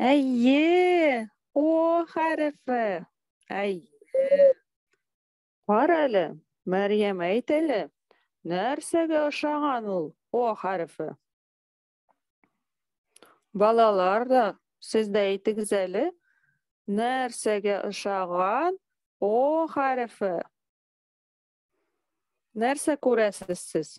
Әйе, О хәрефе. Әйе. Кара әле, Мәрьям, әйт әле, нәрсәгә ошаган ул О хәрефе? Балалар да, сез дә әйтегез әле, нәрсәгә ошаган О хәрефе? Нәрсә күрәсез сез?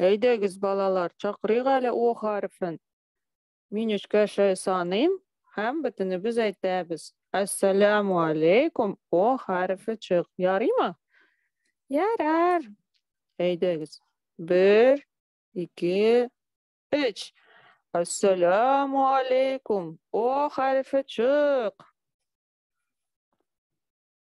Әйдәгез, балалар, чакырыйк әле О хәрефен. Мин өчкә шәй саныйм һәм бөтенебез әйтәбез. Әссәләму алейкум, О хәрефе чык. Ярыймы? Ярар. Әйдәгез. Бер, ике, өч. Әссәләму алейкум, О хәрефе чык.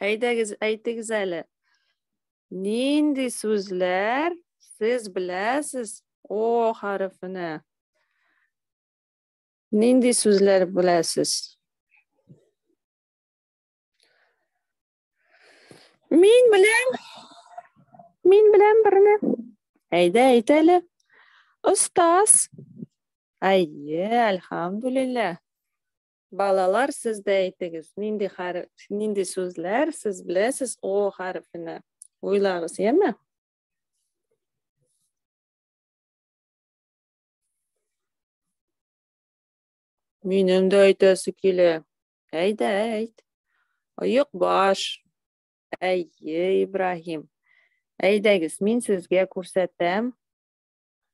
Әйдәгез, әйтегез әле. Нинди сүзләр сез беләсез о хәрефенә? Нинди сүзләр беләсез? Мин беләм. Мин беләм берне. Әйдә, әйт әле. Остаз. Әйе, әлхамдулилла. Балалар, сез дә әйтегез, нинди хәреф, нинди сүзләр сез беләсез О хәрефенә? Уйлагыз, яме? Минем дә әйтәсе килә. Әйдә, әйт. Оек баш. Әйе, Ибраһим. Әйдәгез, мин сезгә күрсәтәм.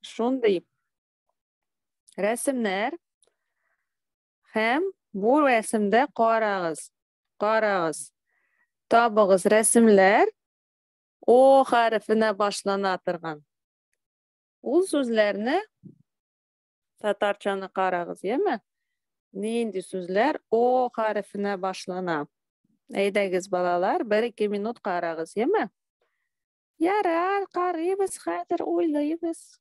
Шундый Рәсемнәр һәм бу рәсемдә карагыз. Карагыз. Табыгыз рәсемләр О хәрефенә башлана торган. Ул сүзләрне татарчаны карагыз, яме? Нинди сүзләр О хәрефенә башлана? Әйдәгез, балалар, бер ике минут карагыз, яме? Ярар, карыйбыз хәзер, уйлыйбыз.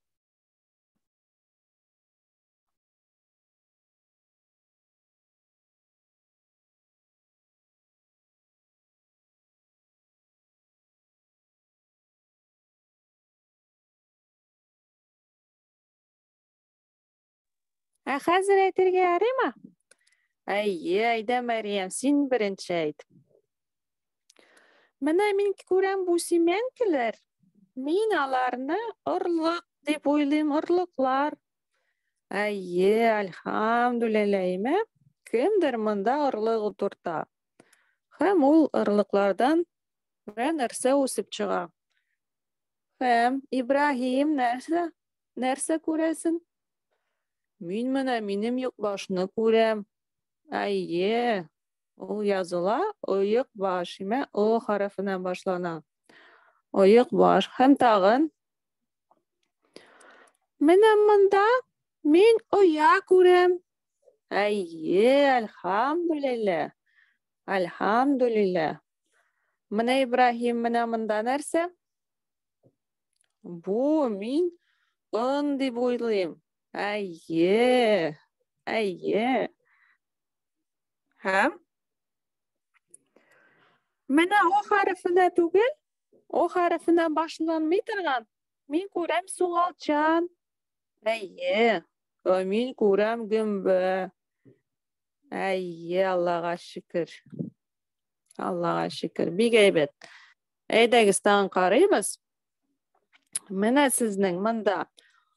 Ә хәзер әйтергә ярыймы? Әйе, әйдә, Мәриям, син беренче әйт. Менә мин күрәм бу симәнкеләр, мин аларны орлык дип уйлыйм, орлыклар. Әйе, альхамдулилләһимә, кемдер монда орлык утырта. Һәм ул орлыклардан бер нәрсә үсеп чыга. Һәм Ибраһим нәрсә? Нәрсә күрәсен? Мин менә минем юк башны күрәм. Әйе, Ул языла оек баш, имә о хәрефенә башлана. Оек баш. Һәм тагын. Менә монда мин оя күрәм. Әйе, әлхамдулилла. Әлхамдулилла. Менә Ибраһим, менә монда нәрсә? Бу мин ын дип уйлыйм. Әйе. Әйе. Һәм? Менә о хәрефенә түгел, о хәрефенә башланмый торган. Мин күрәм сугалчан. Әйе. Мин күрәм гөмбә. Әйе, Аллага шөкер. Аллага шөкер. Бик әйбәт. Әйдәгез, тагын карыйбыз. Менә сезнең монда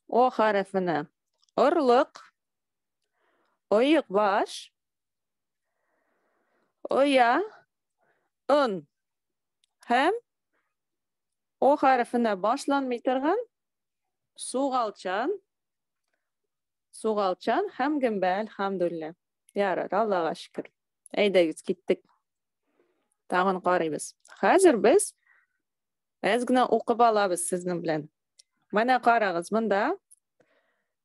о хәрефенә орлык Оек баш. Оя. Ын. Һәм О хәрефенә башланмый торган сугалчан, сугалчан һәм гөмбә, әлхәмдүллә. Ярар, Аллага шөкер. Әйдәгез, киттек. Тагын карыйбыз. Хәзер без әз генә укып алабыз сезнең белән. Менә карагыз, монда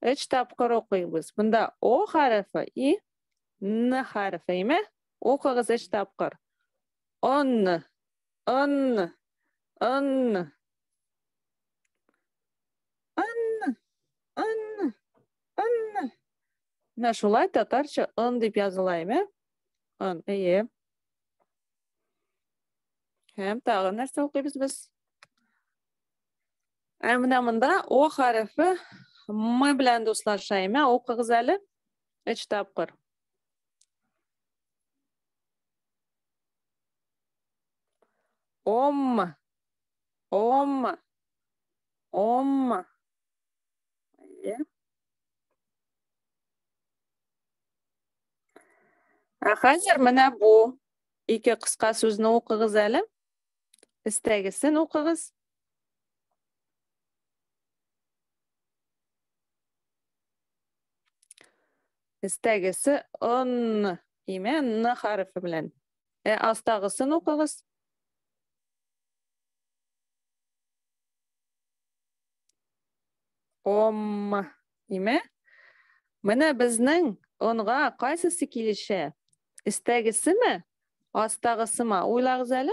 Өч тапкыр укыйбыз. Бында О хәрефе и Н хәрефе, име? Укыгыз өч тапкыр. Он, он, он. Он, он, он. Менә шулай татарча он дип языла, име? Он, әйе. Һәм тагы нәрсә укыйбыз без? Ә менә монда О хәрефе М белән дуслаша. Әмә укыгыз әле. Өч тапкыр. Ом. Ом. Ом. Ә хәзер менә бу ике кыска сүзне укыгыз әле. Истәгесен укыгыз. Истәгесе он име н хәрефе белән. Ә астагысын укыгыз. Ом име? Менә безнең онга кайсысы килешә? Истәгесеме? Астагысыма? Уйлагыз әле.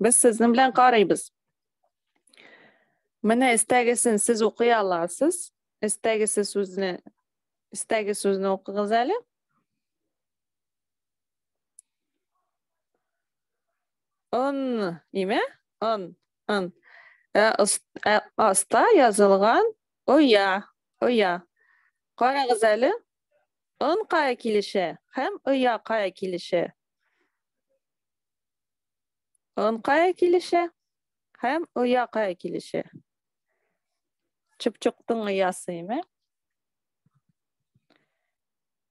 Без сезнең белән карыйбыз. Менә истәгесен сез укый аласыз. Истәгесе сүзне истәге сүзне укыгыз әле. Он, име? Он, он. Ә, ә, аста язылган оя, оя. Карагыз әле. Он кая килешә һәм оя кая килешә? Он кая килешә? Һәм оя кая килешә? Чыпчыктың оясы, име?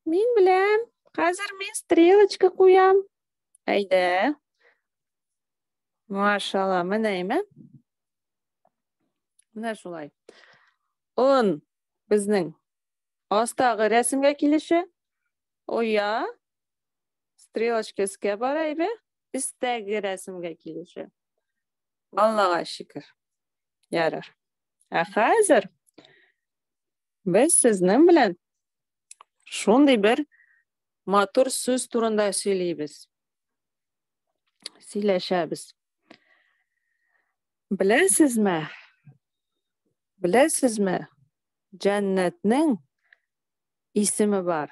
Мин беләм. Хәзер мин стрелочка куям. Әйдә. Машалла, менә име? Менә шулай. Он безнең астагы рәсемгә килеше. Оя Стрелочка өскә бара иде, өстәге рәсемгә килешә. Аллага шөкер. Ярар. Ә хәзер без сезнең белән шундый бер матур сүз турында сөйлибез. Сөйләшәбез. Беләсезме? Беләсезме? Җәннәтнең исеме бар.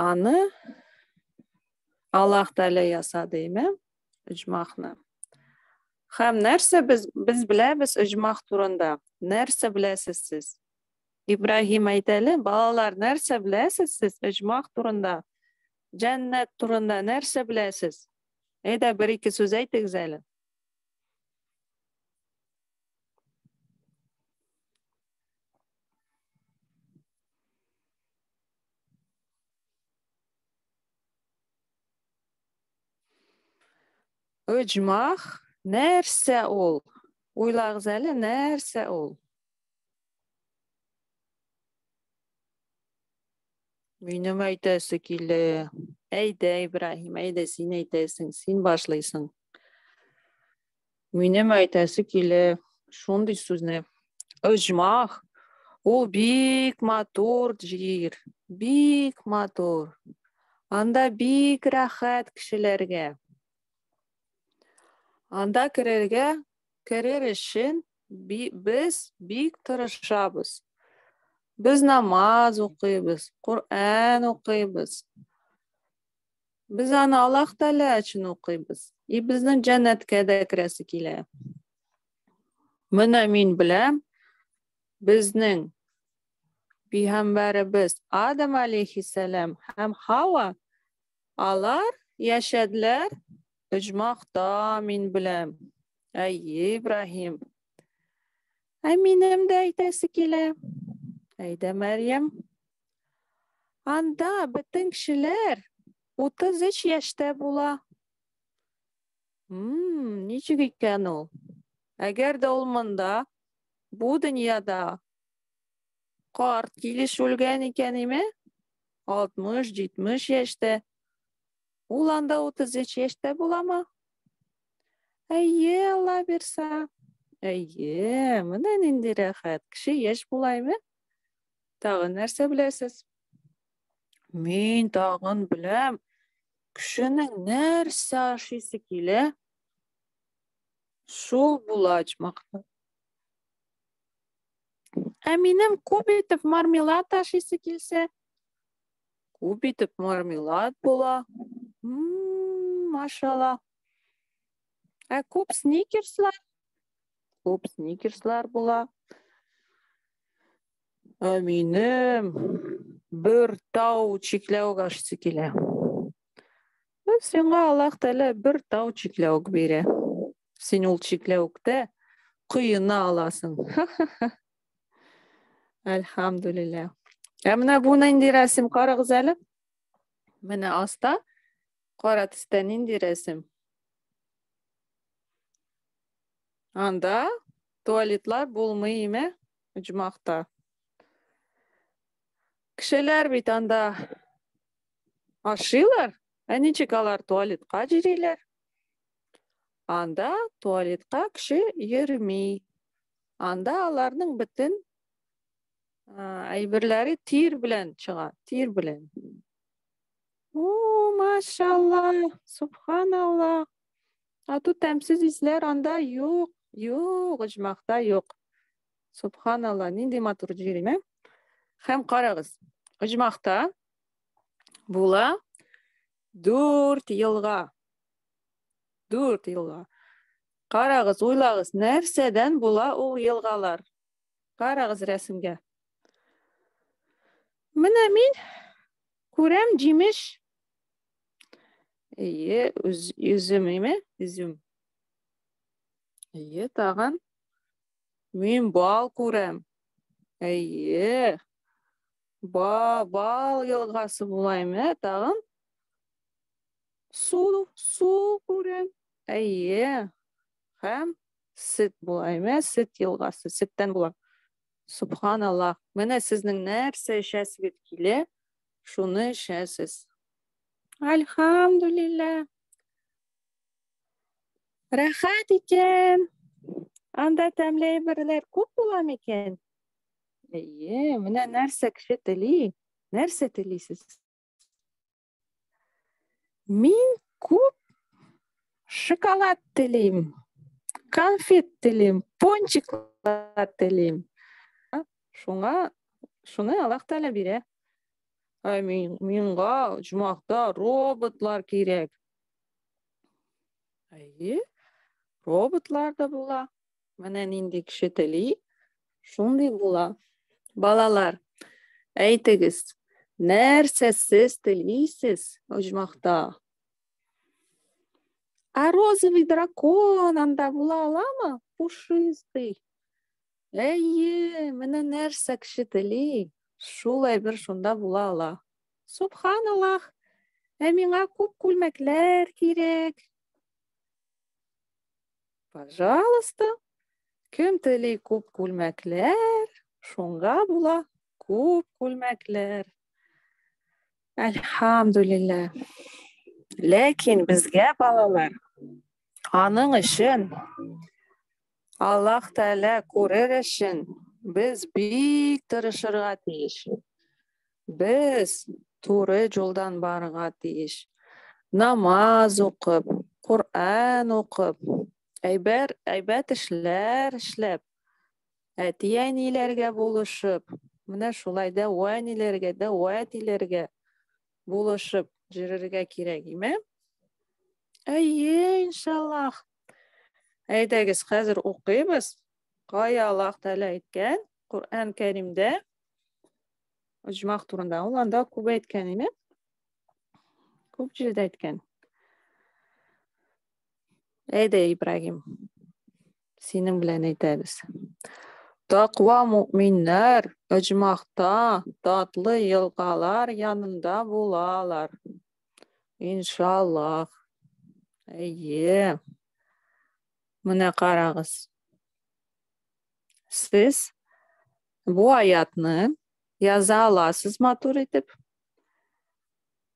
Аны Аллаһ Тәгалә ясады, әйме? Иҗмахны. Хәм нәрсә без без беләбез иҗмах турында? Нәрсә беләсез сез? Ибраһим әйтәле, балалар, нәрсә беләсез сез иҗмах турында? Җәннәт турында нәрсә беләсез? Әйдә, бер-ике сүз әйтегез әле. Ыҗмах нәрсә ул? Уйлагыз әле, нәрсә ул? Минем әйтәсе килә. Әйдә, Ибраһим, әйдә син әйтәсең, син башлыйсың. Минем әйтәсе килә шундый сүзне. Оҗмах ул бик матур җир, бик матур. Анда бик рәхәт кешеләргә. Анда керергә, керер өчен без бик тырышабыз. Без намаз укыйбыз, Коръән укыйбыз. Без аны Аллаһ Тәгалә өчен укыйбыз. И безнең җәннәткә дә керәсе килә. Менә мин беләм, безнең пигамбәребез Адам алейхиссалам һәм Хава алар яшәделәр оҗмахта мин беләм. Әй, Ибраһим. Ә минем дә әйтәсе килә. Әйдә, Мәрьям. Анда бөтен кешеләр 33 яшьтә була. Мм, ничек икән ул? Әгәр дә ул монда, бу дөньяда карт килеш үлгән икән име? 60-70 яшьтә. Ул анда 33 яшьтә буламы? Әйе, Алла бирса. Әйе, менә нинди рәхәт. Кеше яшь булаймы? Тагын нәрсә беләсез? Мин тагын беләм. Кешенең нәрсә ашыйсы килә? Шул була ачмакны. Ә минем күп итеп мармелад ашыйсы килсә, күп итеп мармелад була. Машала. Ә күп сникерслар Күп сникерслар була. Ә минем бер тау чикләү гашысы килә. Ә сиңа Аллаһ Тәгалә бер тау чикләүк бирә. Син ул чикләүктә коена аласың. Әлхәмдүлилләһ. Ә менә бу нинди рәсем карагыз әле. Менә аста кара төстә нинди рәсем? Анда туалетлар булмый име? Оҗмахта. Кешеләр бит анда ашыйлар, ә ничек алар туалетка җириләр? Анда туалетка кеше йөрми. Анда аларның бөтен әйберләре тир белән чыга, тир белән. О, машалла, субханалла. Ату тәмсез исләр анда юк, юк, оҗмахта юк. Субханалла, нинди матур җирем, ә? Хәм карагыз, оҗмахта була дүрт елга. Дүрт елга. Карагыз, уйлагыз, нәрсәдән була ул елгалар? Карагыз рәсемгә. Менә мин күрәм җимеш Әйе, үзем име? Үзем. Әйе, тагын. Мин бал күрәм. Әйе. Ба, бал елгасы булаймы, тагын? Су, су күрәм. Әйе. Хәм сет булаймы? Сет елгасы, сеттән була. Субханаллах. Менә сезнең нәрсә эчәсегез килә? шуны эчәсез. Альхамдулилла. Рәхәт икән. Анда тәмле әйберләр күп була микән? Әйе, менә нәрсә кеше тели? Нәрсә телисез? Мин күп шоколад телим, конфет телим, пончиклар телим. Шуңа шуны Аллаһ Тәгалә бирә. Ә мин, миңа оҗмахта роботлар кирәк. Әйе, роботлар да була. Менә нинди кеше тели, шундый була. Балалар, әйтегез, нәрсә сез телисез оҗмахта? А розовый дракон анда була аламы? Пушистый. Әйе, менә нәрсә кеше тели, шул әйбер шунда була ала. Субханаллах, ә миңа күп күлмәкләр кирәк. Пожалуйста, кем тели күп күлмәкләр, шунга була күп күлмәкләр. Әлхамдулилла. Ләкин безгә балалар аның өчен Аллаһ Тәгалә күрер өчен без бик тырышырга тиеш. Без туры юлдан барырга тиеш. Намаз укып, Коръән укып, әйбәр әйбәт эшләр эшләп, әти-әниләргә булышып, менә шулай да вәниләргә дә вәтиләргә булышып җөрергә кирәк име? Әйе, иншаллах. Әйдәгез, хәзер укыйбыз. Кая Аллаһ Тәгалә әйткән? Коръән Кәримдә оҗмах турында. Ул анда күп әйткән име? Күп җирдә әйткән. Әйдә, Ибрагим. Синең белән әйтәбез. Тақва мөминнәр оҗмахта татлы елгалар янында булалар. Иншаллах. Әйе. Менә карагыз. Сез бу аятны яза аласыз матур итеп.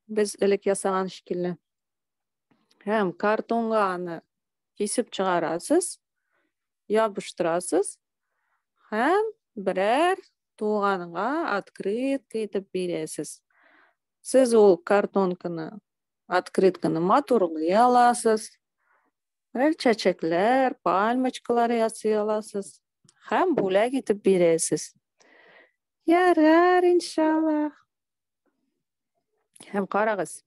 Без элек ясаган шикелле. Һәм картонга аны кисеп чыгарасыз, ябыштырасыз һәм берәр туганга открытка итеп бирәсез. Сез ул картонканы, открытканы матурлый аласыз. Рәл чәчәкләр, пальмочкалар ясый аласыз. Хәм бүләк итеп бирәсез. Ярар, иншаллах. Хәм карагыз.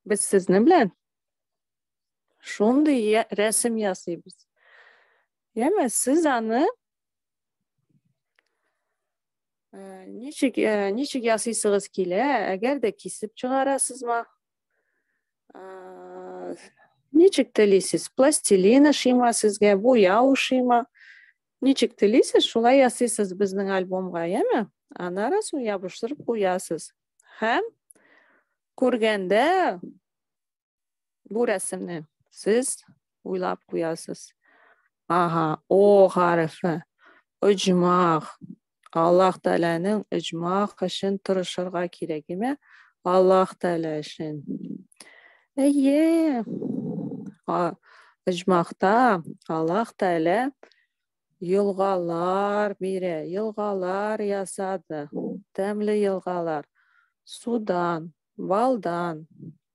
Без сезнең белән шундый рәсем ясыйбыз. Яме, сез аны Э, ничек э, ничек ясыйсыгыз килә әгәр дә кисеп чыгарасызмы э, ничек телисез пластилин ошыймы сезгә буяу ошыймы ничек телисез шулай ясыйсыз безнең альбомга яме аннары соң ябыштырып куясыз һәм күргәндә Бу рәсемне сез уйлап куясыз. Ага, о хәрефе. Оҗмах. Аллаһ Тәгаләнең оҗмах өчен тырышырга кирәк, әйме? Аллаһ Тәгалә өчен. Әйе. Оҗмахта Аллаһ Тәгалә елгалар бирә, елгалар ясады. Тәмле елгалар. Судан, балдан,